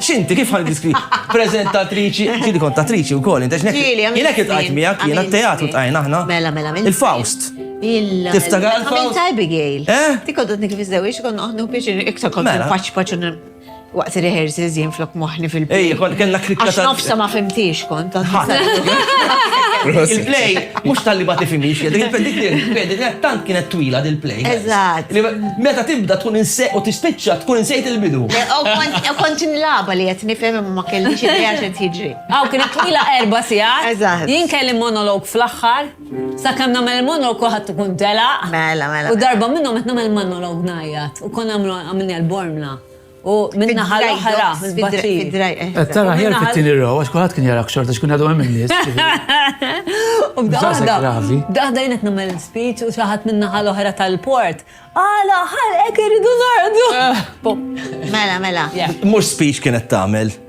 X'inti kif ħan diskri? Preżentatriċi, ġieli kont attriċi wkoll, inti x'nek. Ġieli, għamilt. Jiena kif tqajt miegħek, jiena t-teatru tqajna aħna. Mela, mela, mela. Il-Faust. Tiftakar il-Faust? Għamilt Abigail. Eh? Ti koddot nikif iżdewix, kon noħnu biex iktar kont mela. paċ paċ waqt rehearsals jien flok moħni fil-play. Ej, kont kellna krikka. Għax nofsa ma fimtiex kont. Il-play, mux tal-li bati fimiex, dik il-play, tant kienet twila dil-play. Eżat. Meta tibda tkun inse u tispiċċa tkun insejt il-bidu. U kont inlaba li qed nifhem imma ma kellix idea x'qed jiġri. Aw kienet twila erba' sigħat. Eżatt. Jien kelli monolog fl-aħħar, sakemm nagħmel il-monolog kulħadd ikun telaq. Mela, mela. U darba minnhom qed nagħmel monolog ngħajjat u konna għamilniha l-bormla. U min-naħa l-oħra, fid-dry docks. Qed tara ħjar fit-tieni row, għax kulħadd kien jarak xorta x'kien għadhom hemm in-nies. U b'daħda, b'daħda jien qed nagħmel speech u xi ħadd min-naħa l-oħra tal-port. Għala, ħalqek irridu ngħordu. Mela, mela. Mhux speech kienet tagħmel.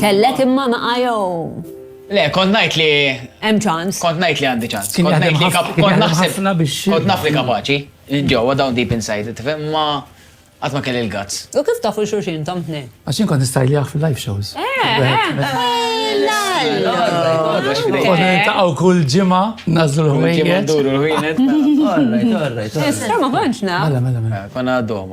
Kellek imma ma qajom. Le, kont najt li. Hemm ċans. Kont najt li għandi ċans. Kont najt li kont naħseb. Kont naf li kapaċi. Ġewwa dawn deep inside, tifhem ma għat ma kelli l-gazz. U kif tafu xurxin tom tnej? Għaxin kont nistajljaħ fil-live shows. Taqaw kull ġima, nazzu l-ħwejn. Issa ma konċna. Mela, mela, mela. Konna għaddom,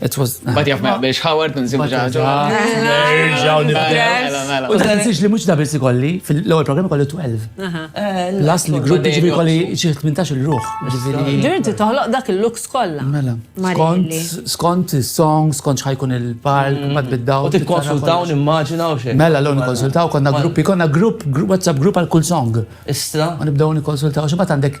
It was. But jaf ma biex Howard nżimu ġaġo. Nerġaw nibdew. U dan li mux da biss ikolli, fil-ewwel programm ikolli 12. Las li grupp ġibi ikolli xi 18 il-ruħ. Ġirinti toħloq dak il-looks kollha. Mela. Skont skont is-song, skont x'ħajkun il-park, mm. ma tbiddaw. U tikkonsultaw nimmaġina u xejn. Mela l nikkonsultaw konna gruppi, konna grupp, WhatsApp grupp għal kull song. Istra. U nibdew nikkonsultaw xi għandek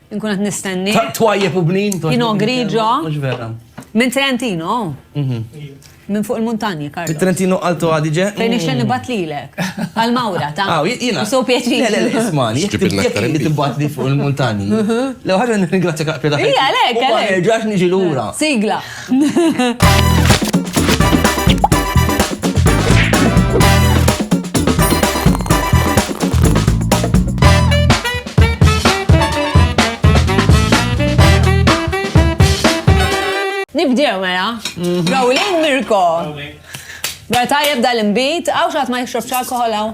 Inkun qed nistenni. Twajjeb u bnin. Pino Grigio. Mhux vera. Minn Trentino. Mhm. Minn fuq il-muntanji, Karl. Trentino Alto Adige. Fejn ixen mm. nibat lilek. Għal-mawra, ta' Aw, ah, jina. So pjaċir. Le, le, ismani, jek li tibat li fuq il-muntanji. Mhm. Lew ħagħa n-ringrazzja kaqpja ta' Ija, le, kale. Ma nerġax niġi l-ura. Sigla. Nibdew mela. Gawlin Mirko. Mela tajjeb dal-imbit, għaw xaħat ma jixrobx alkohol għaw.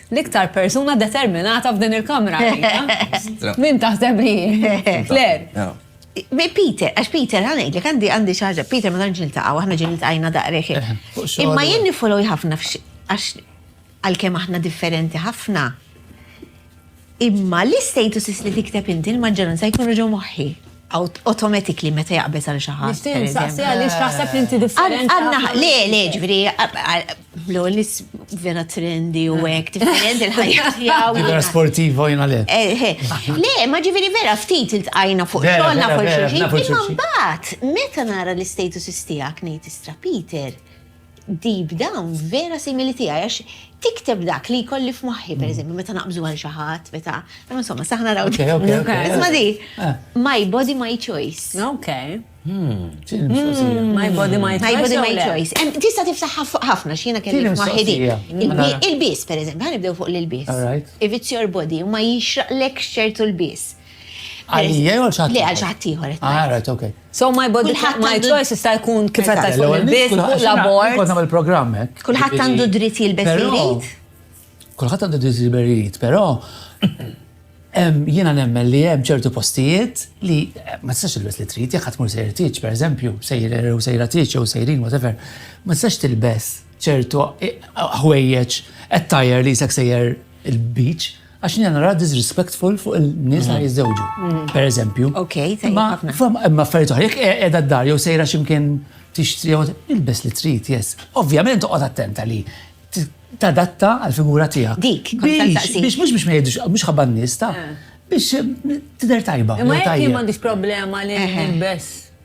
L-iktar persuna determinata f'din il-kamra għalija. Min taħseb li hi? Claire. Peter, għax Peter, għanek, li għandi għandi xaġa, Peter ma tanġ niltaqaw, għahna ġin niltaqajna daqreħi. Eh, Imma jien nifollow ħafna għax għal-kem aħna differenti ħafna. Imma l-statuses li tikteb inti l-maġġoranza jkunu ġo moħħi. automatically meta jaqbeż għal xi ħadd. Nixtieq nsaqsi għaliex taħseb li inti differenti. Għandna le le ġifieri blu li vera trendi u hekk differenti l-ħajja tiegħu. Vera sportiva jiena le. Eh, eh. Le, ma ġifieri vera ftit iltqajna fuq xogħolna fuq xulxin. Imma mbagħad meta nara l-istatuses tiegħek ngħid istra Peter. Deep down vera simili tiegħi għax tikteb dak li jkolli f'moħħi, per eżempju, meta naqbżu għal xi ħadd, meta insomma saħna raw. Isma' di, my body my choice. Okay. My body my choice. My body my choice. Tista' tiftaħ ħafna x'jiena kelli f'moħħi di. Il-bis, per eżempju, ħanibdew fuq l-bis. If it's your body, ma jixraqlek xertu l-bis. Għalija jew xaħat? Le, għal xaħat ieħor. Ah, right, ok. So my body, my choice jista' jkun kif qed tajt fuq il-bit, fuq l-abort. Kont nagħmel programm hekk. Kulħadd għandu dritt jilbes irid. Kulħadd għandu dritt jilbes irid, però jiena nemmen li hemm ċertu postijiet li eh, ma tistax tilbes li trid, jekk ħadd mur sejjer tiġ, pereżempju, sejjer u sejra tiġ jew sejrin whatever, ma tistax tilbes ċertu eh, ħwejjeġ qed tajjer li jisek sejjer il-beach Għax jiena nara disrespectful fuq il-nies li jiżżewġu, pereżempju. Okej, tajjeb Imma ħafna. fam- imma affarijiet oħra, jekk qe- qiegħda d-dar jew sejra x'imkien tixtri jew ilbes li trid, yes. Ovvjament toqgħod attenta li t- tadatta għall-figura tiegħek. Dik, kont Biex, nsaqsik. biex mhux biex ma jgħidux, mhux ħabba n-nies ta' biex eh, tidher tajba. Imma jew jekk jien tajjeb. m'għandix problema li Eħe. nilbes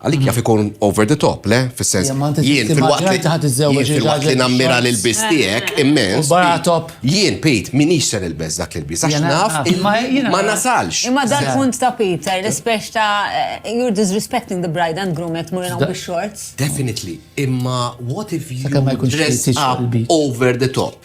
Għalik jaf ikun over the top, le? Fis-sens. Jien fil-waqt li ħadd iżżewweġ fil-waqt li nammira lil biss tiegħek immens. Barra top. Jien Pete minix ser il-beż dak il-biss għax naf ma nasalx. Imma dan punt ta' Pete, eh, l-ispex ta' eh, you're disrespecting the bride and groom qed murina bix-shorts. Definitely, imma what if you dress up over the top?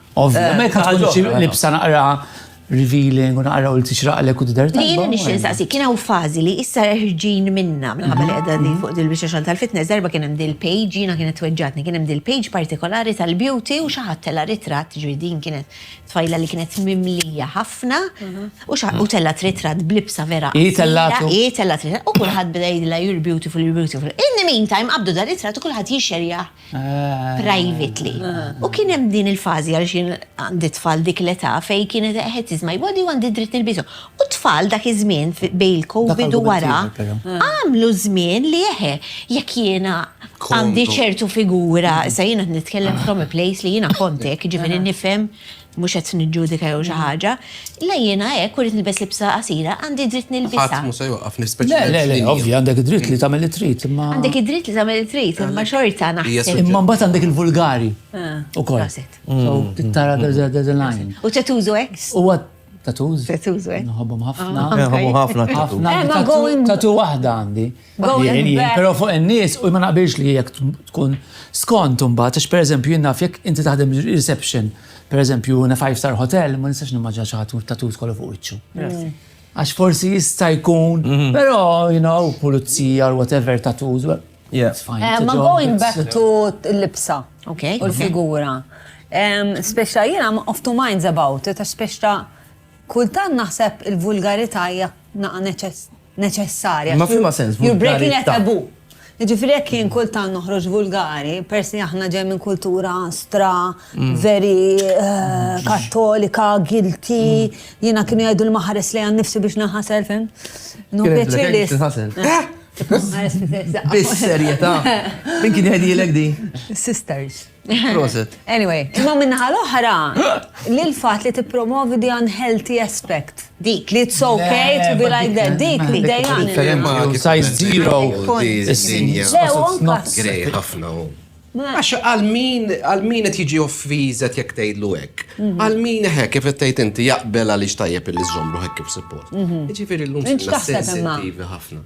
Ovvjament, eh, ħagħu libsa naqra revealing u naqra u l-tixraqlek u t-dar Li jina nixin saqsi, kien hawn fazi li issa ħirġin minna minħabba li għedha li fuq dil-biex xan tal-fitness, darba kien hemm dil-page, jina kienet tweġġatni, kien hemm dil-page partikolari tal-beauty u xaħat tella ritrat ġridin kienet tfajla li kienet mimlija ħafna u tella ritrat blibsa vera. I tella I tella ritrat u kullħat bdejla you're beautiful, you're beautiful. In the meantime, qabdu dar ritrat u kullħat jixerja privately. U kien hemm din il-fażi għaliex jien għandi tfal dik l-età fejn kienet qed is my body u għandi dritt nilbishom. U t-tfal dak iż-żmien bejn il-COVID u wara għamlu żmien li eħe jekk jiena għandi ċertu figura, issa jiena qed nitkellem from a place li jiena kont hekk, jiġifieri nifhem mhux qed niġġudika jew xi mm. ħaġa, la jiena hekk u rrid nilbes libsa qasira, għandi dritt nilbisha. Ħadd mhux se joqaf nispeċjalment. Le, le, ovvja, għandek id-dritt li tagħmel it-trit, imma. Għandek id-dritt li tagħmel it-trit, imma xorta naħseb. Imma mbagħad għandek il-vulgari. Ah, ukoll. Mm. Tara the line. U tetużu hekk? Huwa tatuż. Tatuż, eh? Nħobbhom ħafna. Ah, Nħobbhom ħafna. Ħafna. Eh, tatu waħda għandi. Pero fuq n-nis, u ma naqbilx li jek tkun skont unbat, għax per eżempju jien naf jek inti taħdem reception, per eżempju na five star hotel, ma nistax nimmaġa ċaħtu tatu kollu fuq iċċu. Għax forsi jista' jkun, mhm. pero, you know, pulizija or whatever tatu, it's fine. Eh, ma going back to l-libsa, u l-figura. Speċta jien I'm off to minds about it, speċta kultan naħseb il-vulgarità hija naqa neċess neċessarja. Imma f'liema sens vulgarità? You're breaking a taboo. Jiġifieri jekk jien kultant noħroġ vulgari, peress li aħna ġej minn kultura stra, mm. veri eh, kattolika, guilty, mm. jiena kienu jgħidu l-maħares li għan nifsi biex naħasel, fem? No pjaċir li. Bis-serjetà. Min kien jgħidilek di? Sisters. Proset. Anyway, imma minnaħa l-oħra, li l-fat li t-promovi di unhealthy aspect. Dik. Li it's okay to be like that. Dik li dejjan. Size zero. Grej ħafna. Għax għal-min, għal-min qed jiġi offizet jekk tgħidlu hekk. Mhm. Għal-min hekk kif qed tgħid inti jaqbel għaliex tajjeb li żommru hekk kif support. Mhm. Ġifieri l-lum sensittivi ħafna.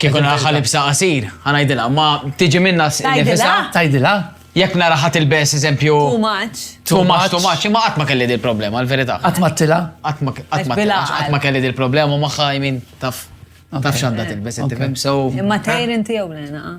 Kieku naraħħa libsa qasir, ħanajdilha, ma tiġi minna s-nifisa. Tajdilha? Jekk naraħħa tilbes, eżempju. Too much. Too much, too much, imma qatt ma kelli dil problema l-verità. Qatt ma tila? Qatt ma tila. Qatt ma kelli dil problema u maħħa jmin taf. Taf xanda tilbes, inti fem, so. Imma tajr inti jew lena. Ah.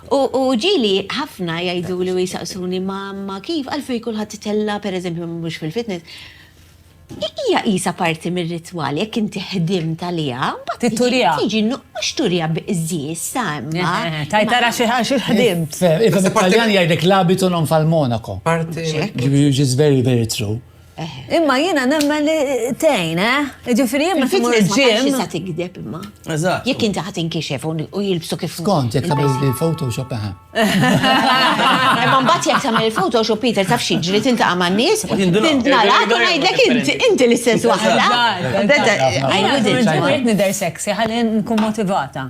U ġieli ħafna jgħiduli u jsaqsuni, Mamma, kif, għalfejn kulħadd itella', pereżempju, mhux fil-fitness? Hija qisha parti mir-ritwal, jekk inti ħdimt għaliha, mbagħad. Titturiha. Tiġi, mhux turiha biqżież, sa, imma. Tgħid ara xi xi ħdimt. It-Taljan jgħidlek l'abito non fa il monaco. Parti. Which is very, very true. Imma jiena nemmen li tgħin, eh? Jiġifieri jien meta mur il-ġim. Sa tigdeb imma. Eżatt. Jekk inti ħadd inkixef u jilbsu kif. Skont jekk tagħmel il-Photoshop eħe. Imma mbagħad jekk tagħmel il-Photoshop Peter taf xi ġri tintaqa' man-nies, tintnala u ngħidlek inti inti l-istess waħda. Qed nidher sexy ħalli nkun motivata.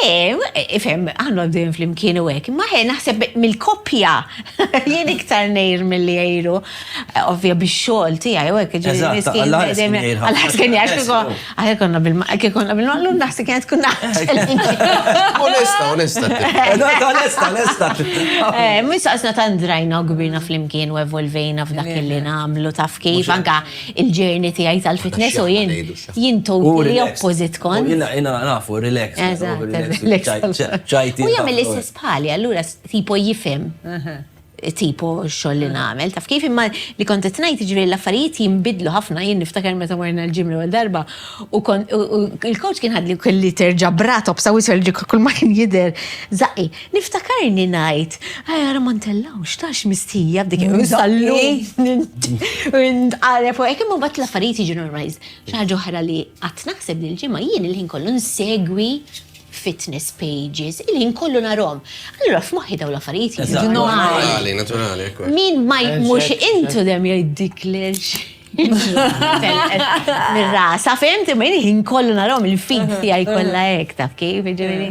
Le, ifhem, għandu għaddejn fl-imkien u għek, ma ħe naħseb mill-koppja, jien iktar nejr mill-li għajru, ovvja biex xol ti għaj, u għek, ġiri, miskin, għal-ħas kien jgħaj, għaj konna bil-maqlu, naħseb kienet kunna. Onesta, onesta. Onesta, onesta. Eh, Misa għasna ta' ndrajna u gbirna fl-imkien u evolvejna f'dak li namlu taf kif, anka il-ġerni ti għaj tal-fitness u jien. Jien toti li opposit kont. Jina, jina nafu, relax. U jgħamil l-istess bħali, allura tipo jifem. Tipo xoll li namel. Taf kif imma li kont t-najt ġviri l-affarijiet jimbidlu ħafna, jien niftakar meta marna l-ġim l darba. U il-coach kien ħadli kelli terġa brat, obsa u kull ma kien jider. Zaqi, Niftakarni ngħid, Aj ara ma ntellgħux, tax mistħija b'dik il-sallu. Ntqareb u hekk imma mbagħad l-affarijiet jiġu normalized. Xi ħaġa oħra li qatt naħseb li l-ġimgħa jien il-ħin kollu nsegwi fitness pages, il-ħin kollu narhom. Allura f'moħħi daw l-affarijiet jiġu normali. Naturali, Min ma mhux intu dem jgħiddik lex. Mir-rasa, fehmti, ma jien kollu narhom il-feed tiegħi kollha hekk taf kif, ġifieri.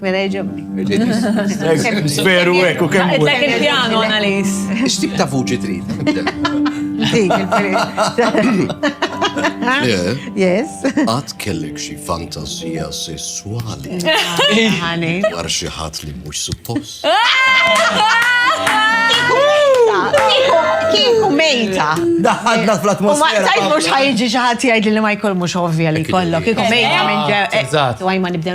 Mela jġobni. Veru hekk u kemm. Tlek il-pjano analiz. X'tip ta' vuċi trid? Dik il-peress. Yes. Għad kellek xi fantazija sessuali. Dwar xi ħadd li mhux suppost. Kieku mejta. Daħadna fl-atmosfera. Ma tajt mhux ħajġi xi ħadd jgħid li ma jkollmux ovvja li kollok. Kieku mejta minn ġew. Eżatt. Għaj ma nibdew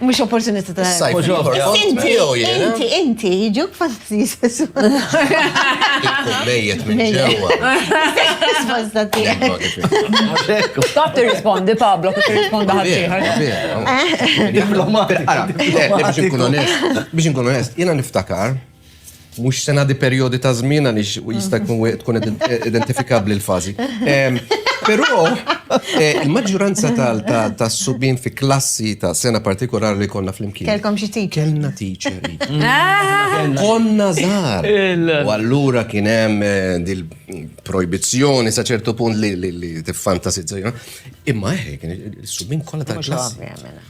Mux opportunità ta' Issa jħor. Inti, inti, inti, jġuk fastidis. Mejjet minn ġewa. Risposta tiegħek. Taf tirrispondi Pablo, kif tirrispondi ħaddieħor. Biex nkun onest, biex nkun onest, jiena niftakar Mhux se ngħaddi perjodi ta' żmien għaliex jista' jkun tkun identifikabbli l-fażi. Però eh, il-maġġuranza tas-subien fi klassi ta' sena partikolari li konna flimkien. Kelkom xi teacher? Kellna teacher. Konna żgħar. U allura kien hemm eh, dil projbizzjoni sa ċertu punt li tiffantasizza. Imma eh, kien is-subien kollha tal-klassi.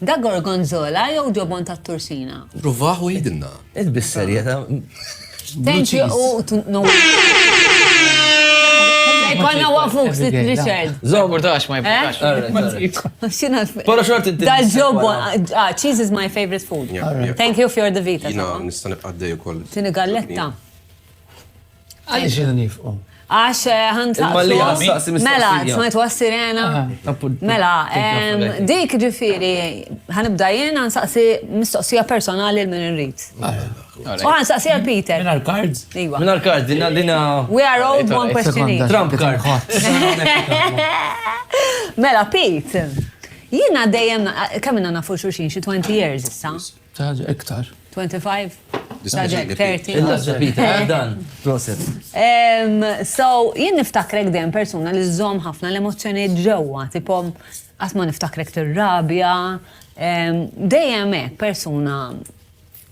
Dak gorgonzola jew ġobon tat-tursina? Pruvaħ u għidilna. Int bis-serjeta. Thank you u no. Konna wafuk sit Richard. Zogur tax ma jibqax. Pero xort inti. Da ġobon, ah, cheese is my favorite food. Thank you for the vita. Jina nista nibqa' d-dej ukoll. Tini galletta. Għaliex jiena nifqu? Għax ħantaqsu. Mela, smajt was sirena. Mela, dik ġifiri, ħanibda jien ħansaqsi mistoqsija personali l-min irrit. U ħansaqsi għal Peter. Minar cards? Iwa. Minar cards, dina dina. We are all one question each. Trump card. Mela, Pete. Jina dejjem, kamina nafu xurxin xie 20 years issa. Xi ħaġa iktar. 25? Xi ħaġa hekk, 30? Il-lażża Peter, eh dan. Proset. So, jien niftakrek dejjem persuna li żżomm ħafna l-emozzjonijiet ġewwa, tipo qatt ma niftakrek tirrabja, dejjem hekk persuna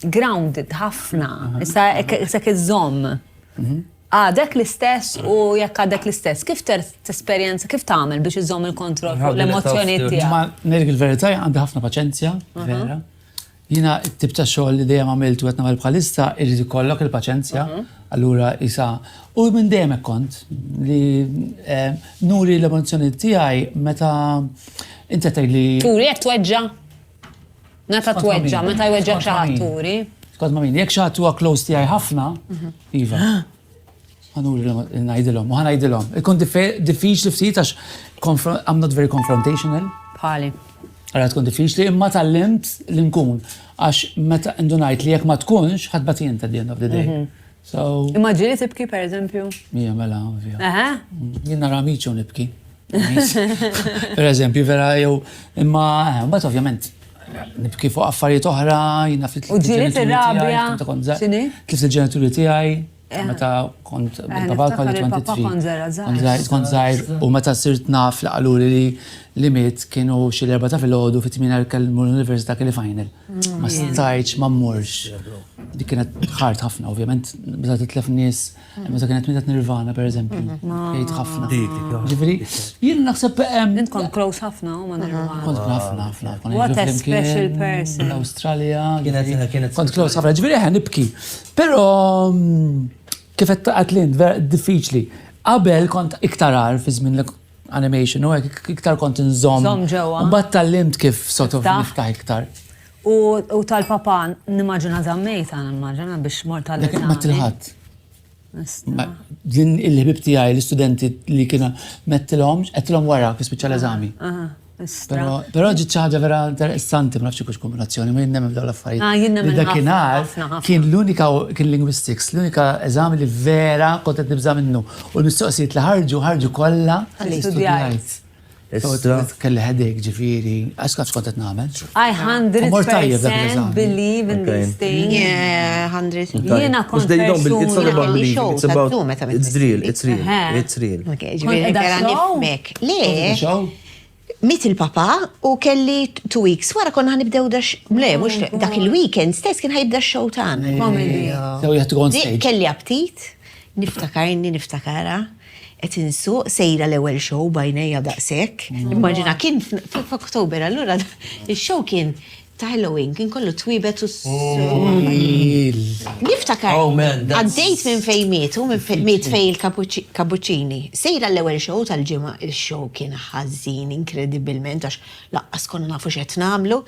grounded ħafna, issa hekk iżżomm. Għadek l-istess u jekk għadek l-istess, kif tesperjenza, kif tagħmel biex iżżomm il-kontroll fuq l-emozzjonijiet tiegħek? Ma ngħidlek il-verità għandi ħafna paċenzja, vera. Jiena t-tip ta' xogħol li dejjem għamilt u qed nagħmel bħalissa irid ikollok il-paċenzja, allura isa. U minn dejjem hekk kont li eh, nuri l-emozzjonijiet tiegħi meta inti tgħidli. Turi qed tweġġa'? Meta tweġġa', meta jweġġgħek xi ħadd turi. Skont ma' min, jekk xi ħadd huwa close tiegħi ħafna, iva. Ħanuri ngħidilhom, u ħanajdilhom. Ikun diffiċli ftit għax I'm not very confrontational. Bħali. Għara tkun diffiċli, imma tal-limt li nkun. Għax meta indunajt li jek ma tkunx, ħadbat jien ta' the end of the day. Mhm. So. Immaġini tibki, per eżempju? Mija, mela, ovvja. Jien nara amiċu nibki. Per eżempju, vera jew imma eh, mbagħad ovvjament nibki fuq affarijiet oħra, jina fit U ġieli fir-rabja. X'inhi? Tlift il-ġenituri tiegħi, eh. meta kont eh, tabal kont 23. Kont żgħir u meta sirt naf li qaluli li li miet kienu xi l-erba ta' filgħodu fit-tmien kellmu l-università kelli final. Ma stajtx ma mmurx. Dik kienet ħart ħafna, ovvjament, meta titlef nies, meta kienet mietet Nirvana pereżempju, jgħid ħafna. Ġifieri, jien naħseb hemm. Int kont close ħafna ma' Nirvana. Kont ħafna ħafna. What a special person. L-Awstralja. Kienet kont close ħafna, ġifieri eħe nibki. Però kif qed taqgħet lint, diffiċli. Qabel kont iktar għar fi żmien animation u hekk iktar kont inżomm. Żomm ġewwa. Mbagħad tallimt kif sort of niftaħ iktar. U tal-papa nimmaġina żammejta nimmaġina biex mort tal Dak ma tilħat. Din il-ħbib tiegħi l-istudenti li kienu mettilhom, qedtilhom wara fi speċjal eżami. Pero ġiet xi ħaġa vera interessanti, ma nafx kux kombinazzjoni, minn nemmen dawn l-affarijiet. Ah, jien nemmen dakinhar kien l-unika kien linguistics, l-unika eżami li vera kont qed nibża' minnu. U l-mistoqsijiet li ħarġu ħarġu kollha li studjajt. Kelli ħedek ġifieri, għax kont kont qed nagħmel. I 100% believe in this thing. Yeah, 100. Jiena kont persuna. It's about it's real, it's real, it's real. Kont qed nifmek. Le. Mit il-papa u kelli two weeks wara konna ħanibdew dax. Le, mux dak il-weekend stess kien ħajibda x-show tan. Kelli aptit, niftakarni, niftakara qed insuq sejra l-ewwel show bajnejja daqshekk. Immaġina kien f'Oktober allura ix-show kien ta' Halloween kien kollu twibet u Niftakar, għaddejt minn fejn mietu, minn fejn miet fejn il-kapuċini. Sejra l-ewwel show tal-ġimgħa, il-show kien ħażin inkredibilment għax laqqas konna nafu x'qed nagħmlu.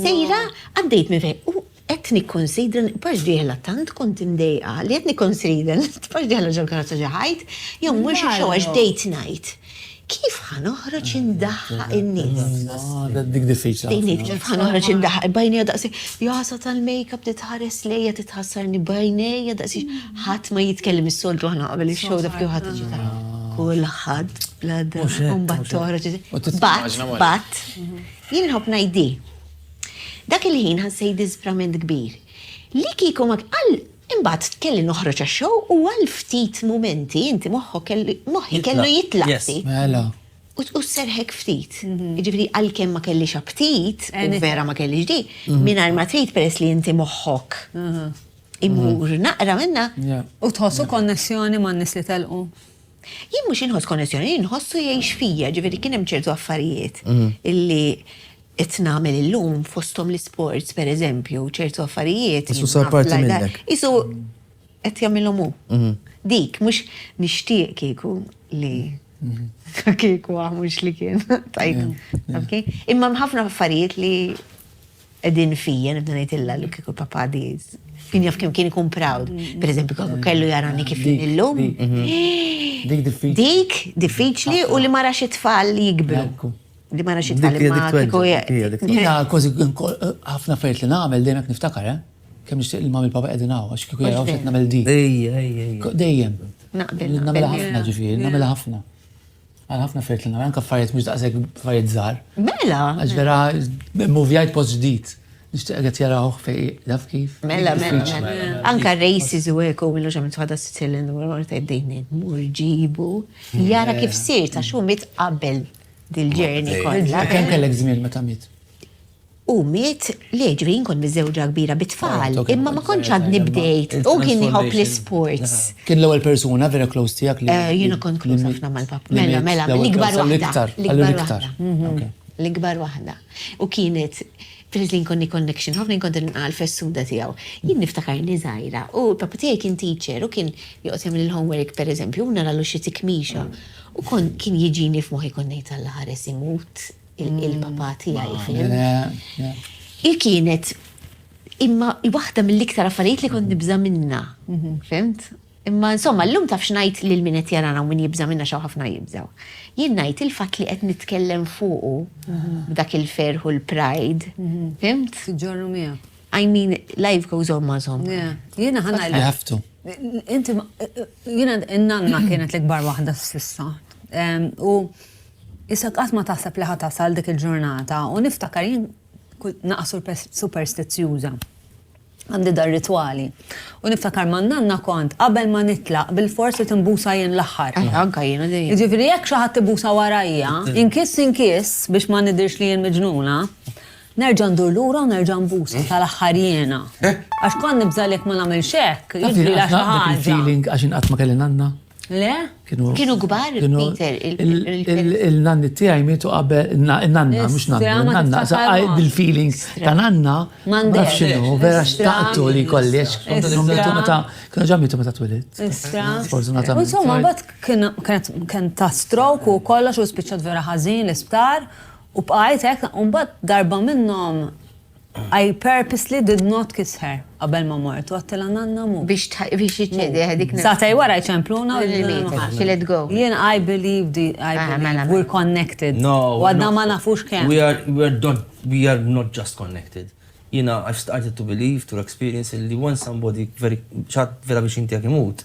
Sejra għaddejt minn fejn u qed nikkunsidra pax dieħla tant kont imdejqa li qed nikkunsidra li pax dieħla ġol-karozza ġo ħajt jew mhux ix-show għax bdejt ngħid. Kif ħa noħroġ indaħħaq in-nies? Dik diffiċli. Tejniet kif ħa noħroġ indaħħaq bajnejja daqsi jasa tal-makeup titħares lejja titħassarni bajnejja daqsi ħadd ma jitkellem is-soltu aħna qabel ix-show dak kif ħadd iġi kulħadd bla mbagħad toħroġ. Bat, bat. Jien nħobb ngħidi. Dak il-ħin ħassejt disprament kbir. Li kieku ma għal Imbagħad kelli noħroġ għax-show u għal ftit mumenti inti moħħok kellu moħħi kellu jitlaq ftit. Mela. U sserħek ftit. Jiġifieri għalkemm ma kellix aptit, u vera ma kellix di, mingħajr ma trid peress li inti moħħok imur naqra minnha. U tħoss ukoll konnessjoni man-nies li telqu? Jien mhux inħoss konnessjoni, jien inħossu jgħix fija, jiġifieri kien hemm ċertu affarijiet illi qed nagħmel illum fosthom l-isports pereżempju ċertu affarijiet. Isu sar parti minnek. Isu qed jagħmilhom hu. Mhm. Dik mhux nixtieq kieku li mhm. kieku mhux li kien tajt. Imma ħafna affarijiet li qegħdin fija nibda ngħidilha li kieku papa diż. Kien jaf kemm kien ikun proud. Mhm. Per eżempju, kellu jarani kif illum. Dik diffiċli. Dik diffiċli u li ma rax it-tfal jikbru. Di ma naxit tal ma kiko Jena kozi ħafna fejt li namel dejjem niftakar, eh? Kem nixtieq li mam il-papa qegħdin hawn għax kieku jaraw x'qed nagħmel di. Ejja, ejja, ejja. Dejjem. Naqbel. Nagħmel ħafna ġifieri, nagħmel ħafna. Għal ħafna fejt li nagħmel anke affarijiet mhux daqshekk affarijiet żgħar. Mela. Għax vera muvjajt post ġdid. Nixtieq qed jaraw fej daf kif. Mela, mela, mela. Anka races u hekk u millu xamt ħadha Sicilian u għorta jdejni mur ġibu. Jara kif sir ta' xu mit qabel. dil-ġerni kollha. Kemm kellek żmien meta miet? U miet li ġri nkun miżewġa kbira bit-tfal, ah, imma ma kontx għad nibdejt u kien jħobb l-sports. Ah. Kien l-ewwel persuna vera close tiegħek li. Eh, jiena kont close ħafna mal-pap. Mela, mela, l-ikbar waħda. L-ikbar. Mhm. L-ikbar waħda. U kienet Filiz li nkonni connection, ħafna nkonni nqal fessuda tijaw. Jien niftakar li zaħira, u papa tijaj kien teacher, u kien joqsem l-homework per eżempju, u nara l-uxi tikmixa. Mm. U kon kien jiġini f'moħi kon nejt għalla ħares imut il-papa tijaj, mm. fim. Ah, Il-kienet, imma waħda mill-iktar affarijiet li kon nibza minna, mhm. fimt? Imma insomma, l-lum taf xnajt li l-minet jarana u min jibza minna xaw ħafna jibzaw. Jien najt il-fat li qed nitkellem fuqu mhm. b'dak il-ferħu l-pride, mhm. fimt? Ġorru miegħek. I mean, life goes on ma zom. Jena ħana You have to. Inti, jena n-nanna kienet l-ikbar wahda s-sissa. U jisa qatt ma taħseb li ħatasal dik il-ġurnata u niftakar jien naqsu superstizjuża għandi dar ritwali. U niftakar ma nanna kont qabel ma nitlaq bil-fors li timbusa jien l-aħħar. Eh, anka jien għadej. Ġifiri jekk xi ħadd tibusa warajja, inkis inkis biex ma nidirx li jien miġnuna, Nerġa' ndur lura u nerġa' nbusa tal-aħħar jiena. Għax kont nibża' li jekk ma nagħmilx hekk, jiġrilha xi ħaġa. Taf dik il-feeling għax jien qatt ma kelli nanna? Le? Kienu kbar, Peter, il-feelings. Il-nanni tiegħi mietu qabel, in-nanna, mhux nanni, in-nanna, sa qaid bil-feeling ta' nanna, ma nafx x'inhu, vera xtaqtu li jkolli, għax kienu mietu meta, kienu ġa mietu meta twilit. Sfortunatament. Insomma, mbagħad kien ta' stroke u kollox u spiċċat vera ħażin l-isptar. U bqajt hekk, u mbagħad darba minnhom I purposely did not kiss her qabel ma mort, u għedtilha nanna mhu. Biex jiċċedi dik nifsu. Sagħtej wara jċempluna u she let go. Jien I believe we're connected. No. U għadna ma nafux kemm. We are not just connected. Jiena I've started to believe through experience li once somebody xi ħadd vera viċin tiegħek imut,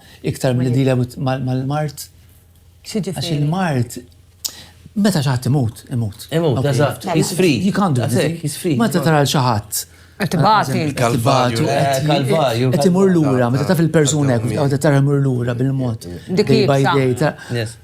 Iktar milli dealer mal-mard. Għax il-mard meta xaħat imut, imut. Imut, eżatt, he's free. You can't do anything. He's free. Meta tara l-xaħat. Tibati. Kalvarju. Kalvarju. Qed imur lura, meta taf il-persuna hekk, tara imur lura bil-mod. Dik by day.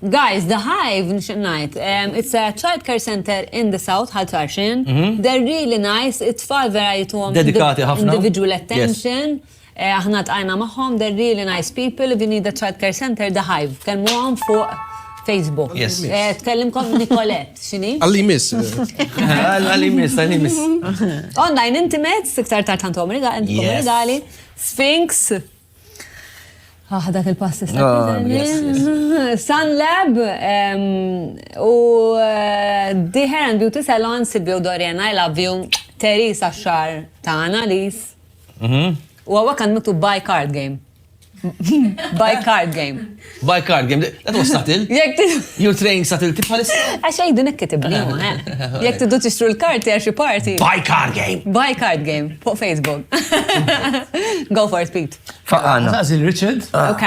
Guys, The Hive, nixtieq ngħid, it's a childcare center in the South, Ħal Tarxien. They're really nice, it-tfal vera jituhom. Dedikati ħafna. Individual attention. Aħna ltqajna magħhom, they're really nice people, if you need a childcare center, The Hive. Tkellmuhom fuq Facebook. Yes. Tkellimkom Nicolette, x'inhi? Għalli miss. Għalli miss, għalli miss. Online intimates, iktar tard għandhom rigali, Sphinx. Ah, dak il-pass tista' ah, Sun Lab u eh, The Hair and Beauty Salon Silvio Dorian I love you Teresa Xar ta' Analis. Mhm. U għawak għandu by card game. By card game. Bicardium, that was subtle. You're training subtlety bħalissa. Għax għajdu nekki tibni. Jek tiddu tixtru l-karti għaxi parti. Buy card game. Buy card game. Fuq Facebook. Go for it, Pete. Faqana. Għazil Richard. Ah. Ok.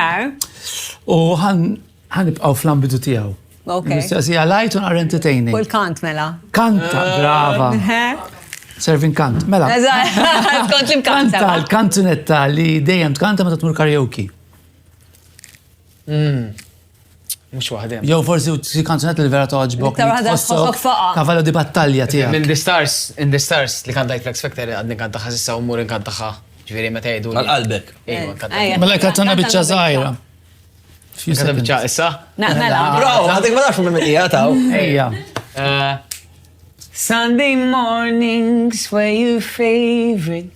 U għan ibqaw fl-ambidu tijaw. Ok. Mistoqsija light un are entertaining. U l-kant mela. Kanta, brava. Serving kant, mela. Kont li mkanta. Kanta, kantunetta li dejjem tkanta ma tmur karaoke. Mm. Mux waħdem. Jow forsi xi kanzunet li vera toġbok. Iktar waħda tħossok faqa. Kavallo di battalja tiegħek. In the stars, in the stars li kantajt Flex Factor għadni kantaħa sissa u mur kantaħa. Ġifieri meta jgħidu. Għal-qalbek. Mela kanzuna biċċa żgħira. Kanzuna biċċa issa? Naqmela. Bro, għadek ma nafx minn hija taw. Ejja. Eh, Sunday mornings were your favorite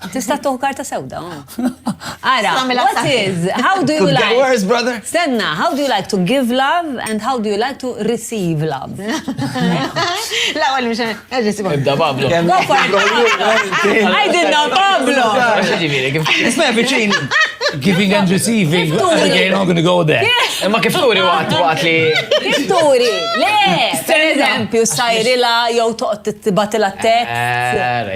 Tista' tuħ karta sewda. Ara, what is, how do you like... Worse, brother. Stenna, how do you like to give love and how do you like to receive love? La, għal mux, għagġisib. Ibda Pablo. Għajdinna Pablo. Isma biċin, giving and receiving. Okay, not gonna go there. Ma kif turi waqt waqt li. Kif turi? Le, per eżempju, sajrila jow toqt t-batila t-tek.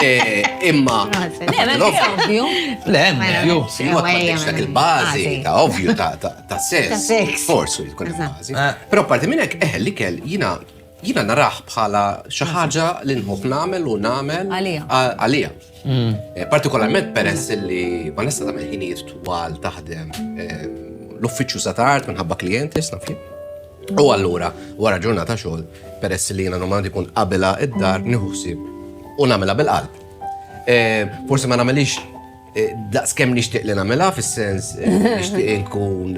Eh, imma. Ovvju. Le, hemm ovvju. Simot ma tibx dak il-bażi ta' ovvju ta' sess. Forsu jkun il-bażi. Eh. Però parti minn hekk eħel li kell jiena jina naraħ bħala xi ħaġa li nħobb nagħmel u nagħmel għalija. Mm. Eh, partikolarment peress li ma nista' tagħmel ħinijiet twal taħdem eh, l-uffiċċju sa tard minħabba klijenti, snafli. U allura, wara ġurnata xogħol, peress li jiena normalment ikun qabilha id-dar nieħu ħsieb u nagħmilha bil-qalb. Forsi ma nagħmilhiex daqs kemm nixtieq li nagħmilha fis-sens nixtieq inkun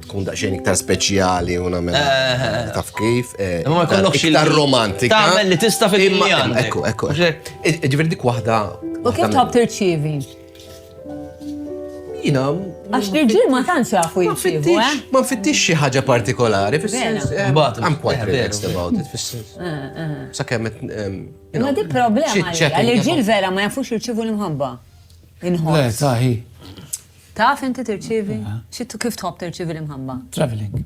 tkun daqsxejn iktar speċjali u nagħmilha taf kif. Ma jkollokx iktar romantika. Tagħmel li tista' fil-imma. Ekku, ekku. Ġifieri dik waħda. U kif tħobb tirċievi? Jina. Għax li ġil ma tantx jafu jiftibu, eh? Ma nfittix xi ħaġa partikolari, fis-sens. Eh, Mbagħad I'm quite relaxed about it, fis-sens. Eh, eh. Sakemm qed. Ma di problema li ġil vera ma jafux jirċivu l-imħabba. Inħoss. Le, taħi. Taf inti tirċivi? Xittu kif tħobb tirċivi l-imħabba? Traveling.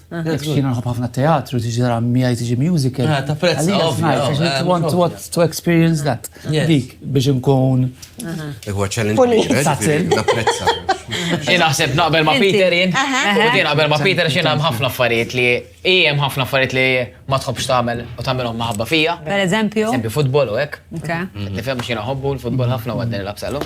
Jiena nħobb ħafna teatru, tiġi tara miegħi tiġi musical. Ah, ta' prezz, ovvju. want to, to experience that. Dik biex inkun. Huwa challenge. Napprezza. Jiena ħseb naqbel ma' Peter jien. Jien naqbel ma' Peter xi hemm ħafna affarijiet li hemm ħafna affarijiet li ma tħobbx tagħmel u tagħmilhom maħabba fija. Per eżempju. Eżempju futbol u hekk. Nifhem xi ħobbu l-futbol ħafna u għaddin il-absalom.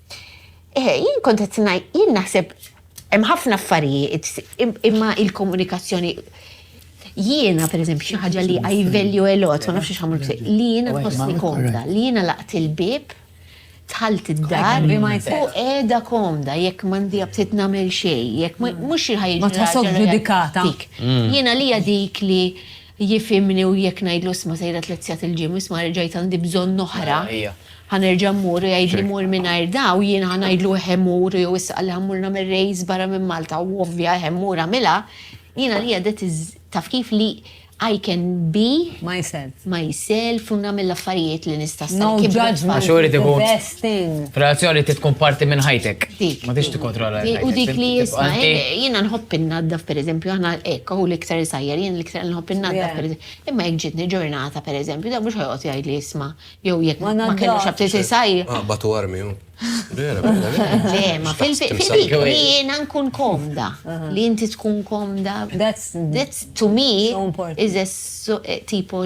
Eh, jien kont qed ngħid, jien naħseb hemm ħafna affarijiet, imma il-komunikazzjoni jiena per eżempju xi ħaġa li I value a lot, ma nafx x'għamlu li jiena nħossni komda, li jiena laqt il-bib tħalt id-dar u qiegħda komda jekk m'għandi abtit nagħmel xejn, jekk mhux xi ħajja. Ma tħossok ġudikata. Mm. Jiena li dik li Jifhimni u jekk ngħidlu isma' sejret lezzjat il-gym u isma' reġgħajt għandi bżonn oħra, ħa nerġa' mmur u jgħidli mur mingħajr da u jiena ħa ngħidlu eħe mur u jew issa qalli ħa mmur nagħmel race barra minn Malta u ovvja eħe mur agħmilha, jiena għalija that is taf kif li I can be myself u nagħmel l-affarijiet li nista' sa jekk ikbru t-tfal. Relazzjoni trid tkun parti minn ħajtek. Dik. Ma tix tikkontrolla l-ħajtek. U dik li jisma, jiena nħobb innaddaf pereżempju, aħna hekk hu l-iktar isajjar, jien l-iktar nħobb innaddaf pereżempju. Imma jekk ġietni ġurnata pereżempju, dan mhux ħajqgħod jgħidli isma' jew jekk ma kellux aptit isajjar. Ah, batu armi hu. Vera, vera. Ma fil-dik li jiena nkun komda, li inti tkun komda. That's, to me, is a tipo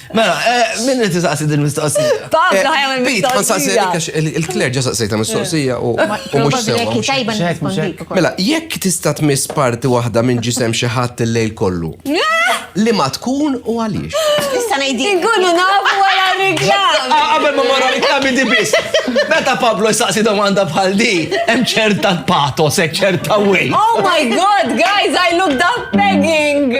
Mela, eh, minn li tisaqsi din mistoqsija? Pablo eh, ħajja minn mistoqsija. Il-kler ġa saqsejta mistoqsija u mux sewa. Mela, jekk tista' tmiss parti waħda minn ġisem xi ħadd il-lejl kollu. Li ma tkun u għaliex. Nista' ngħidi. Inkunu nafu wara reklam. Ah, qabel ma mara reklam di biss. Meta Pablo jsaqsi domanda bħal di, hemm ċerta patos, hemm ċerta way. Oh my god, guys, I looked up begging.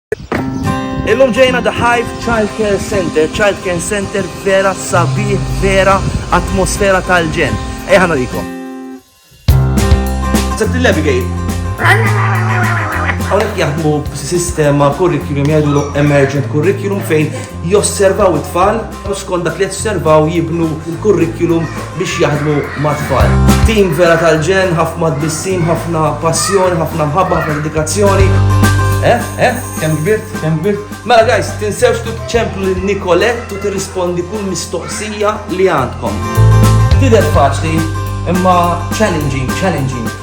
Illum ġejna The Hive Child Care Center, Child Care Center vera sabiħ, vera atmosfera tal-ġen. Ejħa narikom. Sett l-Abigail. Għawnek jaħdmu sistema curriculum jgħidu emergent curriculum fejn josservaw it-tfal u skont dak li josservaw jibnu l-kurrikulum biex jaħdmu mat-tfal. Tim vera tal-ġen, ħafna tbissim, ħafna passjoni, ħafna mħabba, ħafna dedikazzjoni. Eh, eh, kem kbirt, kem kbirt. Mela guys, tinsewx tu ċemplu l-Nikolett u tirrispondi kull mistoqsija li għandkom. Tidher faċli, imma challenging, challenging.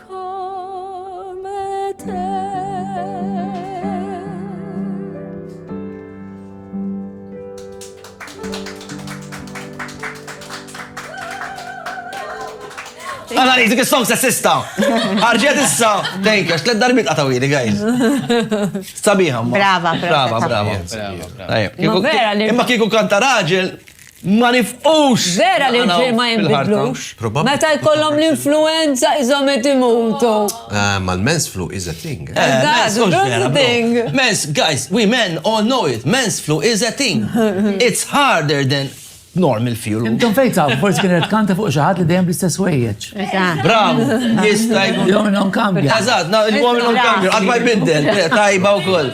Għana li, dik il-song sessista. Arġiet issa. Thank you, xtled darbit għatawili, guys. Sabiħa, ma. Brava, brava, brava. Imma kiku kanta raġel, Ma nifqux! Vera li l-ġir ma jinbidlux. Meta jkollhom l-influenza qishom qed imutu. Ma l-men's flu is a thing. Eżatt, mhux vera bro. Men's, guys, we men all know it, men's flu is a thing. It's harder than normal flu. Intom fejn tafu, forsi kien qed tkanta fuq xi ħadd li dejjem bl-istess wejjeġ. Bravu, jista' jkun. Jew minnhom kambja. Eżatt, il-wol minnhom kambja, qatt ma jbiddel. Tajba wkoll.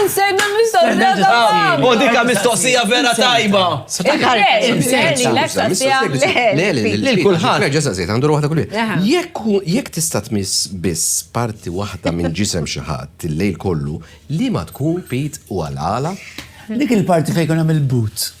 Insenna mistoqsija ta' U dika mistoqsija vera tajba. Lil kulħadd. Nerġa' saqsejt, għandu waħda kull Jekk jekk tista' tmiss biss parti waħda minn ġisem xi ħadd il-lejl kollu, liema tkun Pete u għalala? Dik il-parti fejn jkun hemm il-but.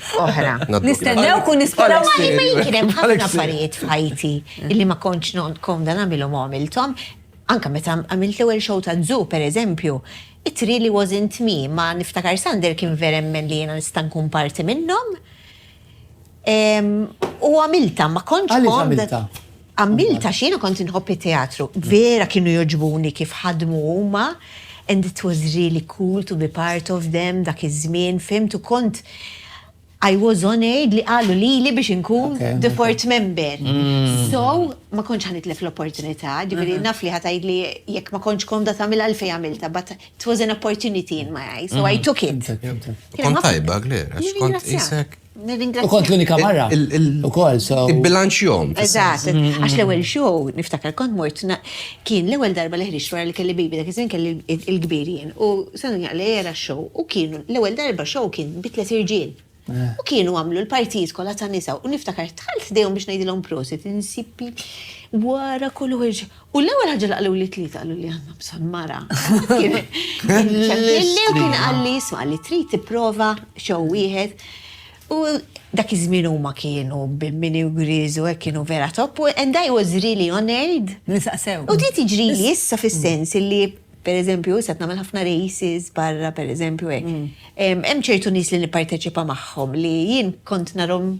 oħra. Nistennew kun nisparaw ma jien hemm ħafna affarijiet f'ħajti illi ma kontx komda nagħmilhom għamilthom. Anka meta għamilt l-ewwel show ta' Zoo pereżempju, it really wasn't me, ma niftakar Sander kien veremmen li jiena nista' nkun parti minnhom. U għamilta, ma kontx komda. Għamilt għax jiena kont inħobb it-teatru. Vera kienu jogħġbuni kif ħadmu huma and it was really cool to be part of them dak iż-żmien, fimt, u kont I was honoured li qalu lili biex inkun the fourth member. So, ma kontx ħa nitlef l-opportunità, ġifieri naf li ħa tgħidli jekk ma kontx komda tagħmilha għalfejn għamiltha, but it was an opportunity in my eyes, so I took it. Kont tajba, Claire, għax kont qisek U kont l-unika marra. U kol, so. Il-bilanċ jom. Eżat, mm-hmm. għax l-ewel show, niftakar kont mort, kien l-ewel darba li ħriġt wara li kelli bibi dak iż-żin kelli il-kbirien. U sanu jaqli era show. U kienu l-ewel darba show kien bitlet irġiel. Eh. U kienu għamlu l-partijiet kollha ta' nisa u niftakar tħalt dejhom biex ngħidilhom prosit, insipi wara kull ħirġ U l-ewwel ħaġa li qalu li tlieta qalu li għandna bżonn mara. Kelli u kien qal li jisma' li trid tipprova xew wieħed. U dak iż-żmien huma kienu bimmini u griżu hekk kienu vera topp u and I was really honored. Li saqsew. U trid tiġrili issa fis-sens li pereżempju issa qed nagħmel ħafna races barra pereżempju hekk. Hemm ċertu nies li nipparteċipa magħhom li jien kont narhom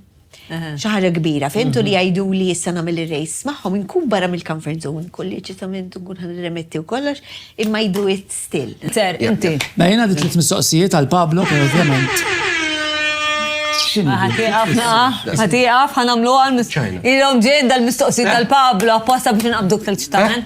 Xi ħaġa kbira, fimtu li jgħidu li issa nagħmel ir-race magħhom inkun barra mill-comfort zone, kolli ċitament nkun ħan remetti u kollox, imma jdu it still. Ser, inti. Ma jiena dit tliet mistoqsijiet għal Pablo, per ovvjament. Ħatiqaf, ħatiqaf, ħanamlu għal. Ilhom ġejn dal-mistoqsijiet tal-Pablo apposta biex nqabduk tal-ċitamen.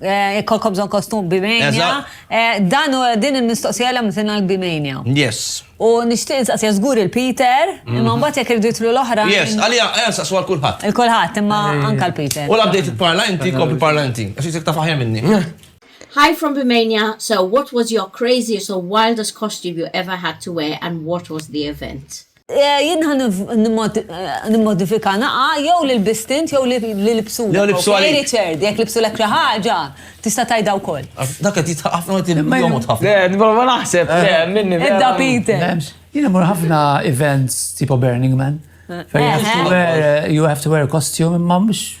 Eh, jekk kolkom bżon kostum bimania. Eh, dan u din il-mistoqsija l mtina bimania. Yes. U nishtiq nsaqsija zgur il-Peter, mhm. imma mbagħad jekk irdu jitlu l-oħra. Yes, għalija eh, nsaqsu għal kulħadd. Il-kulħadd, imma anka l-Peter. U l-update parla inti, kompi parla inti. Għax jisek ta' faħja minni. Hi from Bimania. So, what was your craziest or wildest costume you ever had to wear and what was the event? Jien ħa nimmodifika naqgħa jew li lbist int jew li libsulek. Jew libsu għalik. Okej Richard, jekk libsulek xi ħaġa, tista' tgħidha wkoll. Dak qed jidħaq ħafna u qed jomgħod ħafna. Le, qed nipprova naħseb, le, minni. Ibda Peter. Jien immur ħafna events tipo Burning Man. You have to wear a costume imma mhux.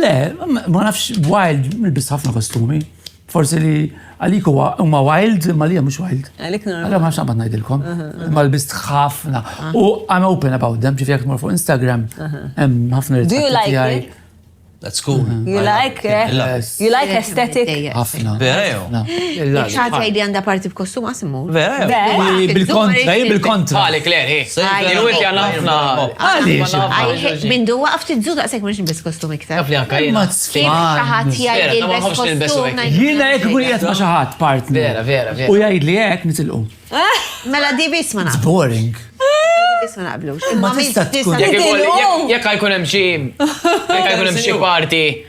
Le, ma nafx wild, nilbis ħafna kostumi. Forsi li għalik huwa huma wild, ma li mhux wild. Għalik normal. Għalek ma xabad ngħidilkom. Ma lbist ħafna. U I'm open about them, ġifi jekk fuq Instagram, hemm ħafna Do you like it? That's cool. Mm-hmm. You like it? You like aesthetic? Ħafna. Vera jew? Xaħat għajdi għanda parti b'kostum għasimmu? Bil-kontra, hi bil-kontra. Għalek le, hi. Hi wet jana ħafna. Għaliex? Hi minn du waqaf tizzu daqsek mux nbis kostum iktar. Għafli għakka jina. Kif xaħat jgħid il-bes kostum. Jina jek kun jgħat ma xaħat part. Vera, vera, vera. U jgħid li jgħek nitilqu. Mela di bis ma naqblux. boring. Bis ma naqblux. Ma tista tkun. Jek għajkun hemm xi. Jek għajkun hemm xi parti.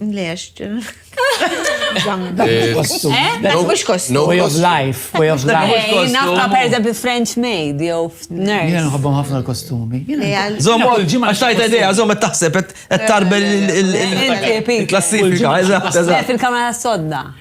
Lex. Mux kostu. No way of life, way of life. Nafta per eżempju French maid, jew nurse. Jena nħobbom ħafna l-kostumi. Zom, ġimma xtajta ideja, zom, taħseb, et tarbel il-klassifika. Fil-kamera sodda.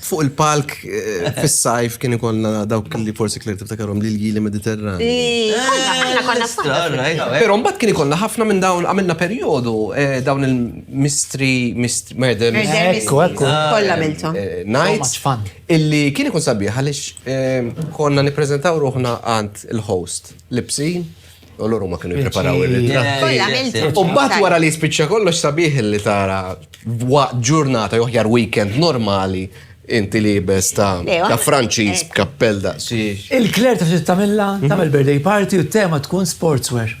Fuq il-palk eh, fis-sajf kien ikollna dawk li forsi kler tiftakarhom li l-jili Mediterran. Però mbagħad kien ikollna ħafna minn dawn għamilna perjodu eh, dawn il-mystery mystery murder Ekku, ekku. Ah, Kollha miltom. eh, So much nights fun. illi kien ikun sabiħ għaliex eh, konna nippreżentaw ruħna għand il-host Lipsin U l ma kienu preparaw il-ritratti. U bat wara li spiċċa kollox sabiħ li tara waqt ġurnata joħjar weekend normali inti libes ta' ta' Franċiż b'kappell da' Il-kler ta' tagħmilha mhm. tagħmel birthday party u t-tema tkun sportswear.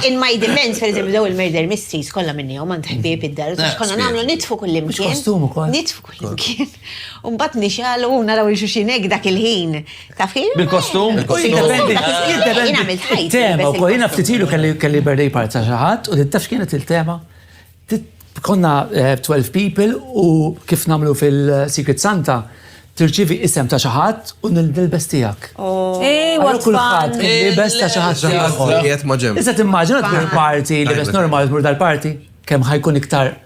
In my defense, per eżempju, daw il-murder mysteries kollha minni u man ħbieb id-dar, konna nagħmlu nitfu kullimkien. Nitfu kullimkien. U mbagħad nixgħalu u naraw il xulxin hekk dak il-ħin. Taf kif? Bil-kostum? Il-tema wkoll jiena ftit ilu kelli birthday party ta' xi ħadd u taf kienet il-tema? Konna 12 eh, people u kif nagħmlu fil-Secret Santa tirċivi isem ta' xaħat u nil-dilbes tijak. Oh. Ej, għal kullħat, nil-dilbes ta' xaħat tijak. Iżda timmaġina t-parti, libes normal, t-mur dal-parti, kem ħajkun iktar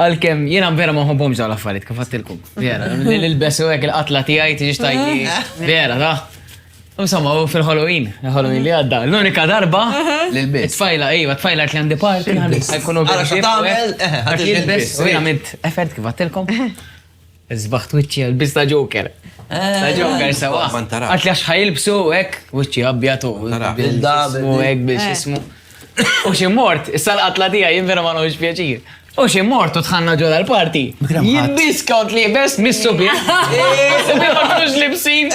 Għalkemm jiena vera ma nħobbhomx dawn l-affarijiet kif għattilkom. Vera, li nilbes u hekk il-qatla tiegħi tiġix tajni. Vera, ta. Insomma, u fil-Halloween, il-Halloween li għadda, l-unika darba li l-bes. Tfajla, ejwa, tfajla li għandi parti, għajkunu biex. Għara xo tagħmel, għax jilbes. U jiena mitt effert kif għattilkom. Sbaħt wiċċi għall-biss ta' Joker. Ta' Joker sewa. Ma ntarax. Għatli għax ħajilbsu hekk wiċċi abjad u Ntarax. bil-dabu hekk biex jismu. U xi mort, issa l-qatla tiegħi jien vera ma nħoġx pjaċir. U xi mort u tħanna ġola l-parti. Jiddiscount li bes mis-subieħ. Subieħ ma kinux libsin.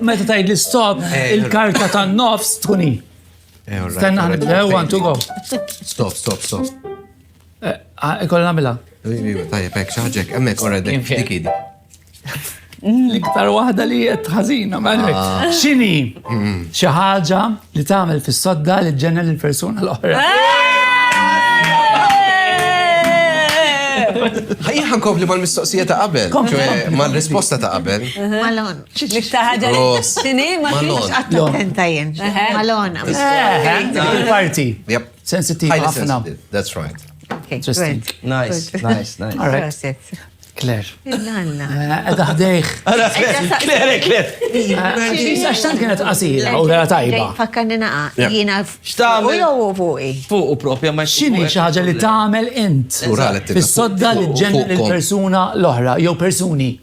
Meta tajd li stop, eh, il-karta ta' nofs tkun hi. Eh, Stenna ħanibdew, one, two, go. Stop, stop, stop. Eh, ah, Ikolla namila. Tajjeb, ek, xaġek, emmek, orra, dik, dik, L-iktar wahda li jett ħazina, maħlek. Ah. Xini, xaħġa li tamel fis-sodda li ġenna l-persuna l-oħra. Ħajja ħankompli mal-mistoqsija ta' qabel, mal-risposta ta' qabel. L-iktar ħaġa li tini ma kienx attent jien. Malona. Il-parti. Sensitiv ħafna. That's right. Interesting. Nice, nice, nice. All right. Claire. Edha ħdejħ. Claire, Claire. Għax tant kienet qasira u vera tajba. Fakkanni naqa, jina u jow u fuqi. Fuq u propja ma xini xaħġa li tamel int. Fis-sodda li ġenna l-persuna l-oħra, jow persuni.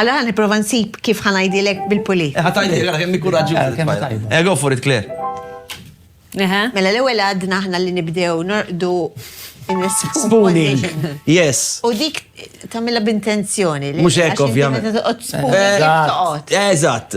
Allora nipprova nsib kif ħa ngħidilek bil-pulit. Ħa tgħidilek ara kemm hi kuraġġjuża. Eh, go for it, Claire. Mela l-ewwel għadna aħna li nibdew norqdu Spooning. Yes. U dik tamilla b'intenzjoni. Mux hekk ovvjament. Eżatt.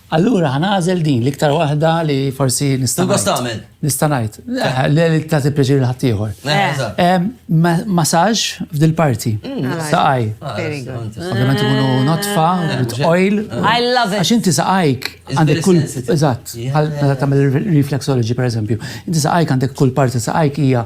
Allura ħa nagħżel din l-iktar waħda li forsi nista' ngħid. Tista' tagħmel. Nista' ngħid. Li tagħti pjaċir lil ħaddieħor. Masaġġ f'dil parti. Saqaj. Ovvjament ikunu notfa, oil. I love it. Għax inti saqajk għandek kull. Eżatt. Bħal meta tagħmel reflexology pereżempju. Inti saqajk għandek kull parti saqajk hija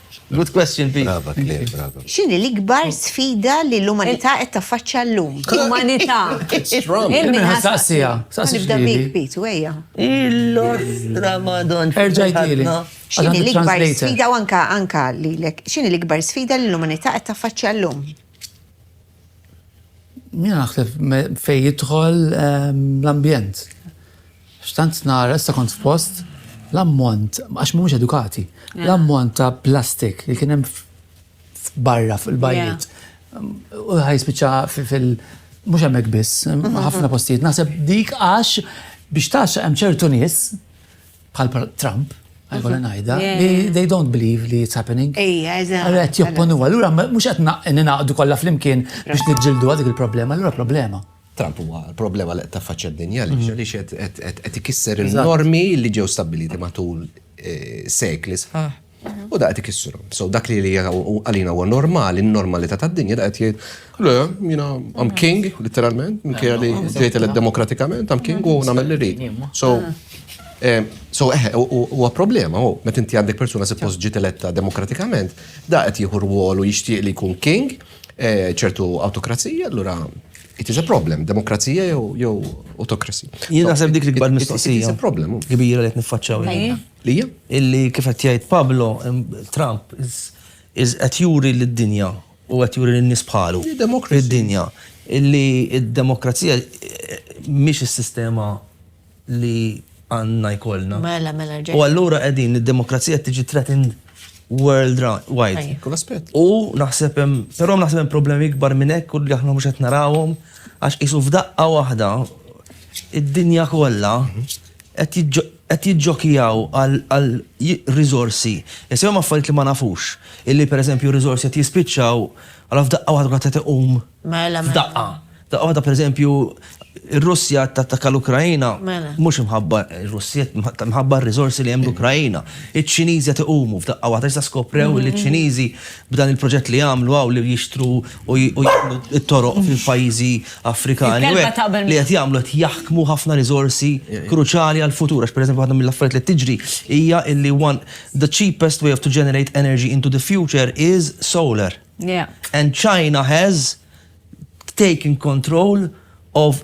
Good question, Pete. Brava, Claire, brava. X'inhi l-ikbar sfida li l-umanità qed taffaċċja llum? L-umanità. Strong. Minħa saqsija. Nibda bik, Pete, u ejja. Il-ostra madon. Erġa' jtili. X'inhi l-ikbar sfida u anka anka lilek. X'inhi l-ikbar sfida li l-umanità qed taffaċċja llum? Jien naħseb fejn jidħol ehm, l-ambjent. Xtant nara, issa kont f'post, l-ammont, għax mhumiex edukati, l-ammont ta' plastik li kien hemm barra fil-bajjiet. U ħaj spiċċa fil- mhux hemmhekk biss, ħafna postijiet. Naħseb dik għax biex tax hemm ċertu nies bħal Trump, għajkolla mhm. najda, they don't believe li it's happening. Ija, eżatt. Għallu għet jopponu, għallura mux għet ninaqdu kolla fl-imkien biex nġildu għadik il-problema, għallura problema. Trump huwa l-problema li qed taffaċċja d-dinja li mhm. xed qed ikisser il-normi li ġew stabbiliti matul eh, sekli sħaħ U da qed ikissurhom. So dak li li għalina huwa normali, n-normalità tad-dinja da qed jgħid, le, jiena I'm king, literalment, minkejja li tgħid eled demokratikament, I'm king u nagħmel li rrid. So eh, So, eħe, eh, huwa problema, u met inti għandek persuna suppost ġiet eletta demokratikament, da qed jieħu rwol u jixtieq li jkun king, eh, ċertu autokrazija, allura it is a problem, demokrazija jew autokrazija. Jien naħseb dik l-ikbar mistoqsija. It is a problem. Kbira li qed niffaċċaw. Lija? Illi kif qed jgħid Pablo, Trump is qed juri lid-dinja u qed juri lin-nies bħalu, lid-dinja, illi d-demokrazija mhix is-sistema li għandna jkollna. Mela, mela, rġajt. U allura qegħdin id-demokrazija qed tiġi threatened worldwide. Kull aspett. U naħseb hemm, però naħseb hemm problemi ikbar minn hekk u li aħna mhux qed narawhom għax qisu f'daqqa waħda id-dinja kollha qed qed jiġġokjaw għal riżorsi, insejhom affarijiet li ma nafux, illi pereżempju riżorsi qed jispiċċaw, allura f'daqqa waħda kulħadd qed iqum f'daqqa. F'daqqa waħda pereżempju r-Russja qed tattakka l-Ukraina, mhux imħabba r-Russja, imħabba r-riżorsi li hemm l-Ukraina. Iċ-Ċiniżi qed iqumu f'daqqa waħda, issa skoprew li ċ-Ċiniżi b'dan il-proġett li għamlu hawn li jixtru, u jgħamlu t-toroq fil-pajjiżi Afrikani li qed jagħmlu qed jaħkmu ħafna riżorsi kruċali għall-futur. Għax pereżempju waħda mill-affarijiet li tiġri hija illi one the cheapest way of to generate energy into the future is solar. And China has taken control of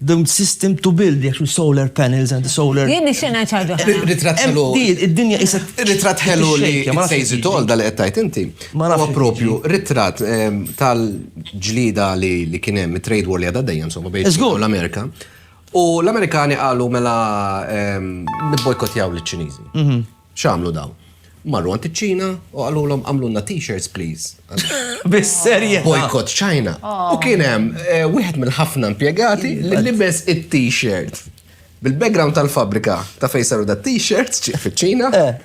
The system to build the actual solar panels and the solar. Jien nixtieq ngħid xi ħaġa oħra. Ritratt ħelu. Id-dinja issa. Ritratt ħelu li sejżi tol dal qed tgħid inti. Ma huwa propju ritratt ehm, tal-ġlida li kien hemm it-trade war li għadha dejjem insomma bejn l-Amerika. U l-Amerikani qalu mela ehm, nibbojkotjaw liċ-Ċiniżi. Mhm. X'għamlu dawn? Marru għand iċ-Ċina u qalulhom għamlulna t-shirts please. Bis-serjetà. Boycott China. U kien hemm eh, wieħed mill-ħafna impjegati li libes it-t-shirt bil-background tal-fabrika ta' fejn saru da t-shirts fiċ-Ċina eh.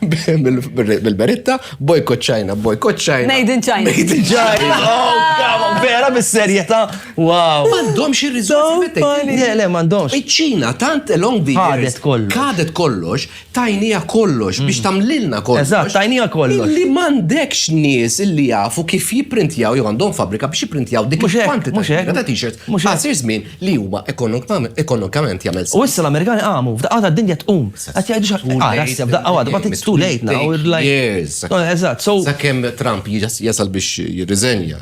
bil-beritta boycott China, boycott China. Made in China. Made in China. Oh, vera bis-serjetà. Wow. M'għandhom xi riżorsi. Le, le, m'għandhomx. Iċ-Ċina tant along the years. Kadet kollox. Kadet kollox tajnija kollox, biex mm. tamlilna kollox. Eżatt, tajnija kollox. Li mandekx nies illi jafu kif jiprintjaw jew għandhom fabrika biex jiprintjaw dik il-kwantità ta' t-shirt. Mhux għasir żmien li huwa ekonomikament jagħmel. U issa l-Amerikani qamu, f'daqqa ta' dinja tqum. Qed jgħidu xi ara issa f'daqqa waħda, but it's too late now. Eżatt, so. Sakemm Trump jasal biex jirriżenja.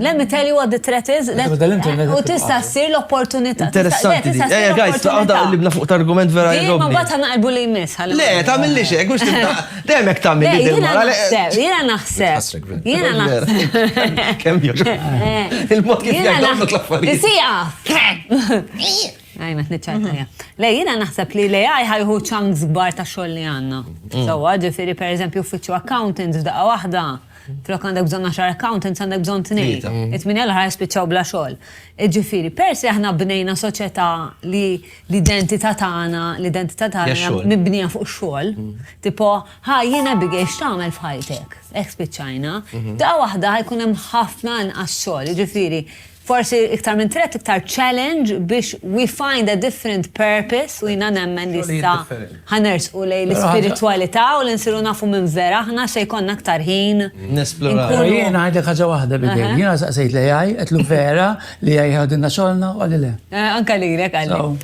Let me tell you what the threat is. U tista' ssir l-opportunità. Interessanti. Ejja, guys, għadha li bna fuq argument vera jgħu. Ma bata naqbu li jmiss. Le, tagħmilli xejn, mhux tibda. Demek tagħmel li dil mara. Jiena naħseb. Jiena naħseb. Kemm jogħġu. Il-mod kif jgħidu l-affarijiet. Tisija. Għajna, t-nitċajtajja. Le, jina naħseb li le għaj ħajħu ċans gbar ta' xoll li għanna. Sawa, ġifiri, per eżempju, uffiċu accountant f'daqqa wahda. Flok għandek bżonn għaxar accountants għandek bżonn tnejn. It-tminja l-ħar jispiċċaw bla xogħol. Ġifieri, pers li aħna bnejna soċjetà li l-identità tagħna, l-identità tagħna mibnija fuq xogħol, tipo, ħa jien Abigail x'tagħmel f'ħajtek? Hekk spiċċajna. Daqqa waħda ħajkun hemm ħafna inqas xogħol. Ġifieri, forsi iktar minn threat, iktar challenge biex we find a different purpose u jina nemmen li sta ħanersqu lej l-spiritualità u l-insiru nafu minn vera, ħna se jkonna aktar ħin. Nesploraw. Jena għajdek ħagġa wahda bidej, jena saqsejt li għaj, għetlu vera li għaj għadinna xolna u għalli le. Eh, anka li għalli.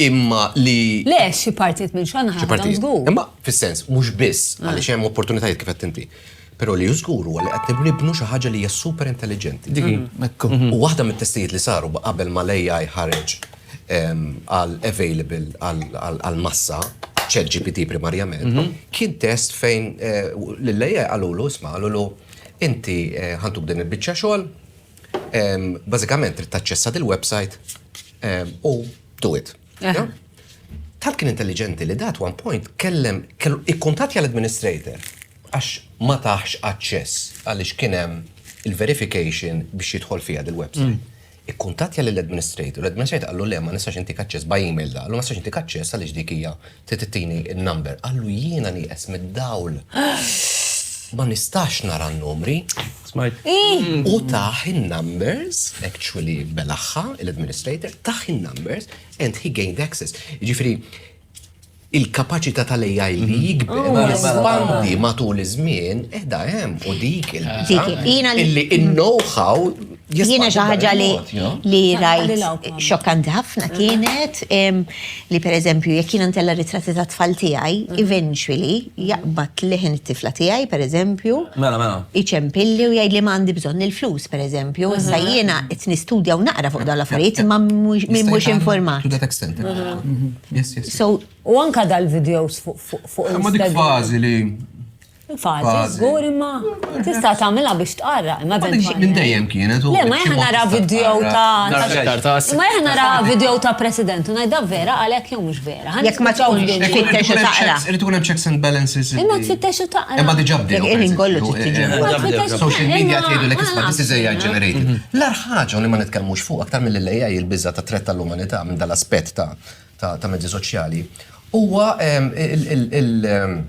imma li. Le, xi partijiet minn xogħolna ħa nagħmilhom żgur. Imma fis-sens, mhux biss, ah. għaliex hemm opportunitajiet kif qed inti. Però li żgur huwa li qed nibnu xi ħaġa li hija super intelligenti. Mhm. U waħda mit-testijiet li saru qabel ma l-AI ħareġ ehm, għal available għal massa ċet GPT primarjament, mhm. kien test fejn eh, l-AI għalulu, isma' għalulu, inti eh, ħantuk din il-bicċa xogħol, Bażikament trid taċċessa dil-website u do it. Tal kien intelligenti li dat one point kellem ikkuntatja l-administrator għax ma taħx aċċess għaliex kien hemm il-verification biex jidħol fiha dil-website. Ikkuntatja lill-administrator, l-administrator qallu le ma nistax intik aċċess by email da, qallu ma nistax intik aċċess għaliex dik hija Trid ittini n-number. Qallu jiena nieqes mid-dawl. Ma nistax nara n-numri. Smajt. U tah in-numbers, actually belaħħa l-administrator, tah in-numbers and he gained access. Jiġifieri il-kapaċità tal-AI li jikber, jispandi matul iż-żmien, qiegħda hemm u dik il-bidla. Dik, jiena li. Illi in-know-how Jiena xi ħaġa li rajt xokkanti ħafna kienet li pereżempju jekk jiena ntella ritratti ta' tfal tiegħi, eventually jaqbad leħen it-tifla tiegħi pereżempju. Mela, mela. Iċempilli u jgħidli ma għandi bżonn il-flus pereżempju, issa jiena qed nistudja u naqra fuq dawn l-affarijiet imma min mhux informat. U anka dal-videos fuq il-Instagram. Ma dik fażi li Fazi, zgur imma tista' tagħmilha biex tqarra, imma eventualment. Minn dejjem kienet. Le, ma jħan nara video ta' ma jħan nara video ta' president u ngħidha vera għalhekk jew mhux vera. Jekk ma tawx biex tfittex u taqra. Irid ikun hemm checks and balances. Imma tfittex u taqra. Imma diġà bdew. Irid kollu tittiġi. Social media tgħidu li kisba this is AI generated. L-ar ħaġa li ma nitkellmux fuq aktar mill-AI il-biża ta' tret tal-umanità minn dal-aspett ta' mezzi soċjali huwa il-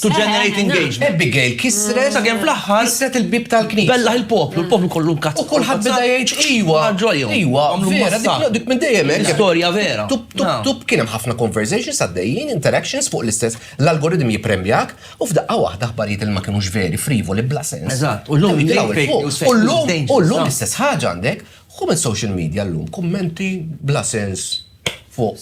To generate engagement. Abigail kisret. Sakemm fl-aħħar. Kisret il-bib tal-knisja. Bellaħ il-poplu, il-poplu kollu nkazz. U kulħadd beda jgħid iwa. Ġolja. Iwa. Vera dik dik minn dejjem hekk. Storja vera. Tup tup tup kien hemm ħafna conversations għaddejjin, interactions fuq l-istess l-algoritm jippremjak u f'daqqa waħda aħbarijiet li ma kinux veri, frivoli, bla sens. Eżatt. U llum llum llum l-istess ħaġa għandek. Hu minn social media llum kummenti bla sens. fuq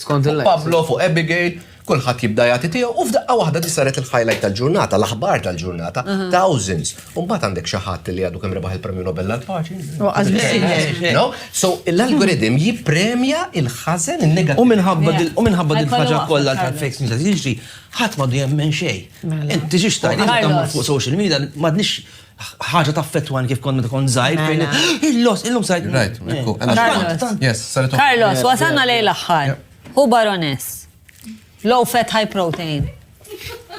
Pablo, fuq Abigail, kulħadd jibda jagħti tiegħu u f'daqqa waħda di saret il-highlight tal-ġurnata, l-aħbar tal-ġurnata, thousands. U mbagħad għandek xi ħadd li għadu kemm rebaħ il-Premju Nobel għall-Paċi. No? So l-algorithm jippremja il-ħażen in-negattiv. U minħabba dil- u minħabba dil ħaġa kollha ta' fake news qed jiġri, ħadd m'għadu jemmen xejn. Inti xiex tajt, inti tagħmel fuq social media, m'għadniex ħaġa taffettwani kif kont meta kont żgħir. Mela. Il-los, illum sajt. Right, ekku. Carlos, wasalna lejn l-aħħar. Hu baroness. Low fat, high protein.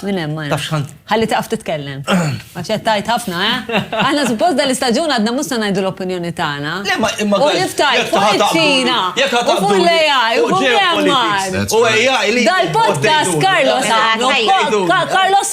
Min hemm ma Ħalli taqaf titkellem. Għax qed tajt ħafna, eh? Aħna suppost dan l-istaġun għadna mhux se ngħidu l-opinjoni tagħna. Le ma imma U niftaj fuq iċ-Ċina. Jekk ħadd fuq l-AI, u fuq l-Mars. U AI li. Dal-podcast Carlos Carlos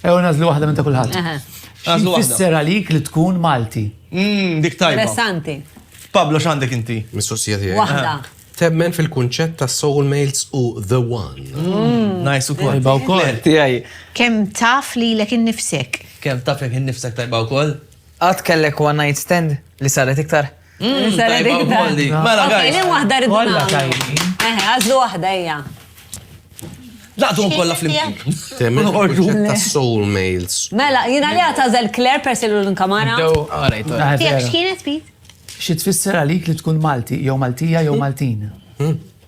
Ew nażlu waħda minn ta' kulħadd. Nażlu waħda. Fisser għalik li tkun Malti. Mmm, dik tajba. Interessanti. Pablo x'għandek inti? Mistoqsija tiegħi. Waħda. Temmen fil-kunċett ta' soulmates u the one. Mm. Nice ukoll. Tajba wkoll. Tiegħi. Kemm taf li lek innifsek? Kemm taf lek innifsek tajba wkoll? Qatt kellek one night stand li saret iktar? Mela, għajni wahda rridu. Kolla tajni. Eħe, għazlu wahda, ija. Laqdu kolla fl-imkien. Temmen uħorġu ta' soul mails. Mela, jina li għatazel Claire persi l-kamara. Tijak xkienet, Pete? Xi tfisser għalik li tkun Malti, jew Maltija, jew Maltin? Hmm.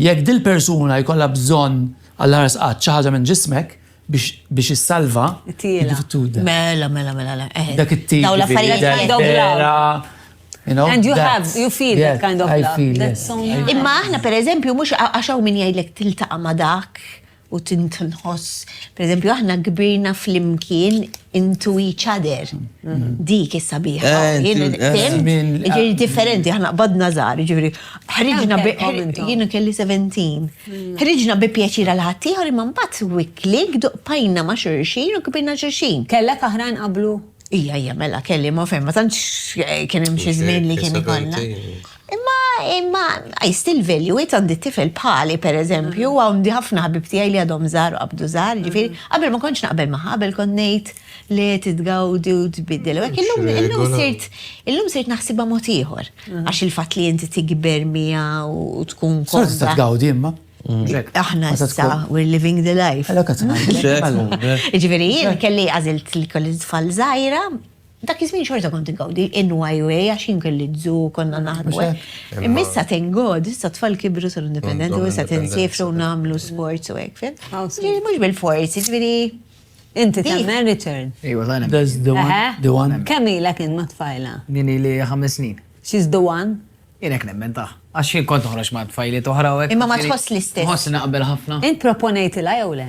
Jekk dil-persuna jkollha bżonn għall-aħħar sqatt xi ħaġa minn ġismek biex biex issalvha, Tiela. tibda. Mela, mela, mela, le, eh. Dak it-tip. Dawn l-affarijiet jiġifieri kind of love. vera, you know, And you that- have, you feel that yes, kind of I love. feel, That's yes. so nice. Imma aħna pereżempju mhux għax hawn min jgħidlek tiltaqa' ma' dak, u tinħoss, per eżempju, aħna kbirna flimkien into each other. Dik is sabiħa. Eh, eh, ġiri differenti, aħna qbadna żgħar, ġiri ħriġna bi jiena kelli 17. Hmm. Ħriġna bi pjaċir għal ħaddieħor imma mbagħad wikli gduqpajna ma' xurxin u kbirna xurxin. Kellek aħrajn qablu? Ija, ija, mela kelli ma fejn, ma tantx eh, kien hemm xi żmien li kien ikollna. Imma, imma, I still value it għandi tifel bħali, per eżempju, mm. għandi ħafna ħabib tijaj li għadhom zar u għabdu zar, mm. ġifiri, għabel ma konċ naqbel maħħa, għabel konnejt li titgawdi u tbiddel. U għek, illum sirt, illum sirt naħsibha mod ieħor, mm. għax il-fat li jinti tikber mija u tkun kont. Sorta tgawdi imma. Aħna issa, we're living the life. Ġifiri, jien kelli għazilt li kolli tfal zaħira, Dak iż-żmien xorta kont ingawdi NYUA għax jien kelli dżu konna naħdmu. Eh. Imma issa thank God, issa tfal kibru sar indipendenti u issa tinsifru nagħmlu sports u hekk fin. Mhux bil-forsi, ġifieri. Inti tagħmel return. Ejwa tagħna. Does the one? The one. Kemm ilek int ma' tfajla? Jien ili ħames snin. She's the one? Jien hekk nemmen ta' għax jien kont toħroġ ma' tfajli toħra u hekk. Imma ma tħoss l-istess. Tħoss naqbel ħafna. Int proponejtilha jew le?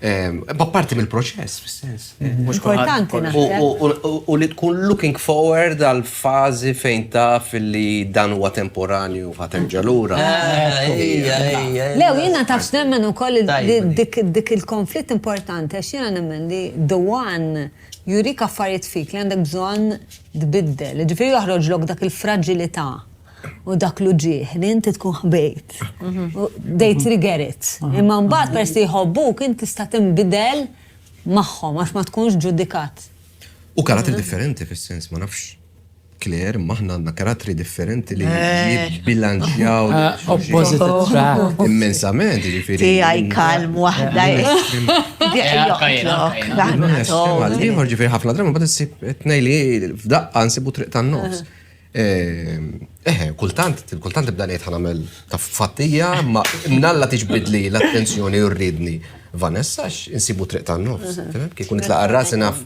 B'apparti mill-proċess, fis-sens. Mhux kultant. U li tkun looking forward għal fażi fejn taf li dan huwa temporanju u ħadd terġa' lura. Le, u jiena taf x'nemmen ukoll dik il-konflitt importanti għax jiena nemmen li the one jurik affarijiet fik li għandek bżonn tbiddel. Jiġifieri joħroġlok dak il-fraġilità. u dak l-uġieħ li inti tkun ħbejt. They trigger it. Imma mbagħad peress li jħobbuk inti tista' tinbidel magħhom għax ma tkunx ġudikat. U karattri differenti fis-sens ma nafx Claire, imma aħna għandna karattri differenti li eh. jibbilanċjaw. Eh, opposite attract. Immensament, ġifiri. Ti għaj kalm wahda. Għalli, ġifiri ħafna dramu, bat s-sib t-nej li f'daqqa nsibu triq tan-nofs. Eh. Eħe, kultant, kultant nibda ngħid ħanamel ta' fattija, ma nalla tiġbidli l-attenzjoni u rridni. Vanessa, insibu triq ta' nofs. Mhm. Kikun nitlaqa rasi naf.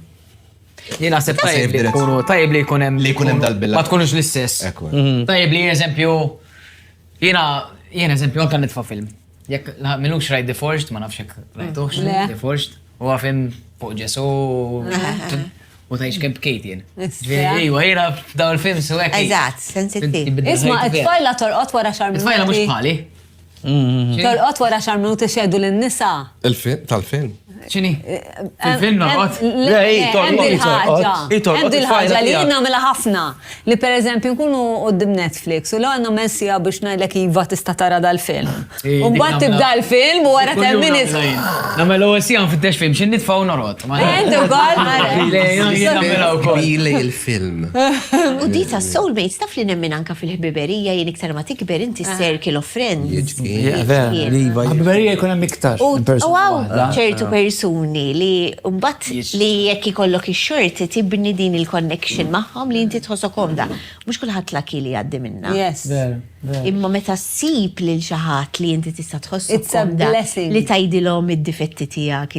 Jien naħseb tajjeb li jkunu, tajjeb li jkun hemm. Li jkun hemm dal-billa. Ma tkunux l-istess. Mhm. Tajjeb li eżempju, jiena, jien eżempju, anke nitfa' film. Jekk milux rajt The Forged, ma nafx jekk rajtux The Forged, u għafim fuq ġesu u tajx kem bkejt jien. Ġviri, u għajra daw il-film su għek. Eżat, sensittiv. Isma, it-tfajla torqot wara xar minuti. It-tfajla mux bħali. Torqot wara xar minuti xedu l-nisa. Il-film, tal-film. ċini? Fil-film noqgħod? Le, torqod. Hemm dil-ħaġa li jien nagħmilha ħafna. Li pereżempju nkunu qudiem Netflix u l-għandna messija biex ngħidlek iva tista' tara dal-film. U mbagħad tibda l-film u wara ten minutes. Nagħmel ewwel sija nfittex film xi nitfa' u norqod. Hemm ukoll mara. Ili il-film. U dita soulmates taf li nemmin anka fil-ħbiberija jien iktar ma tikber is-circle of friends. Jiġifieri Ħbiberija jkun hemm iktar. U hawn ċertu persuni li mbagħad li jekk ikollok ix-xorti tibni din il-connection magħhom li inti tħossok komda. Mhux kulħadd laki li jgħaddi minnha. Imma meta ssib lil xi ħadd li inti tista' tħossok komda li tgħidilhom id-difetti tiegħek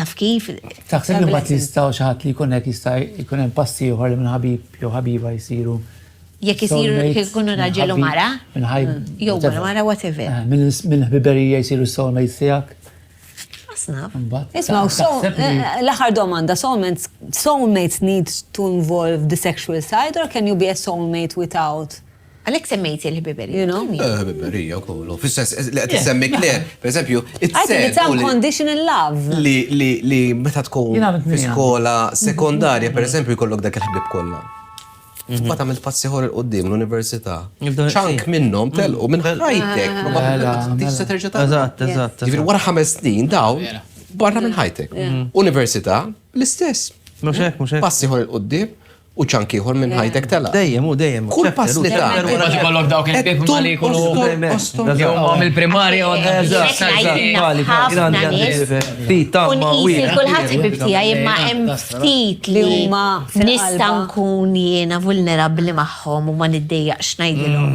Taf kif? Taħseb li ma tistaw xi ħadd li jkun hekk jista' jkun hemm passi ieħor li minn ħabib jew ħabiba jsiru. Jekk isiru jkunu raġel u mara? Minn ħajb. Mm, jew mara mara whatever. Eh, minn ħbiberija jsiru soulmates tiegħek. Asnaf. Isma' eh, eh, l-aħħar domanda, soulmates soulmates need to involve the sexual side or can you be a soulmate without? Għalhekk semmejt il-ħbiberija. You know? Eh, ħbiberija kollu. Fis-sens li qed issemmi Claire, pereżempju, it-sens. unconditional love. Li li li meta tkun fi skola sekondarja, pereżempju, jkollok dak il-ħbib kollha. Mhm. Fqat għamilt passi ħor il-qoddim l-Università. ċank minnom mhm. telqu minn ħajtek. Mela, mela. Tista terġa ta' Eżatt, eżatt. Ġifir wara ħames snin daw barra minn ħajtek. Mhm. Università l-istess. Muxek, muxek. Passi ħor il-qoddim U ċank ieħor minn ħajtek telaq. Dejjem u dejjem. Kull pass li tagħmel. Imbagħad ikollok dawk il-ħbieb huma li jkunu li huma mill-primarja u Nqis kulħadd ħbieb tiegħi imma hemm ftit li huma nista' nkun jiena vulnerabbli magħhom u ma niddejjaqx ngħidilhom.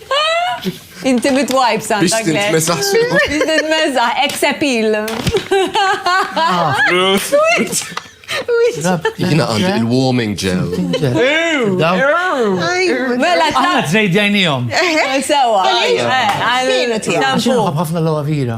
Inti mit-wipes għandek. Biex titmesaħ. Biex titmesaħ, ex appeal. Jina għand il-warming gel. Mela, ta' t-trejdjajnijom. Sewa. Għajnu tijak. Għafna l-għavira.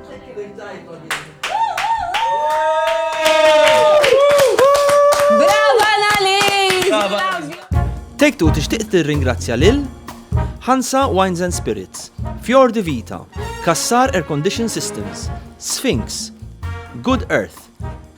Brava Annalise! Take Two tixtieq tirringrazzja lil Hansa Wines and Spirits, Fjord Vita, Kassar Air Condition Systems, Sphinx, Good Earth,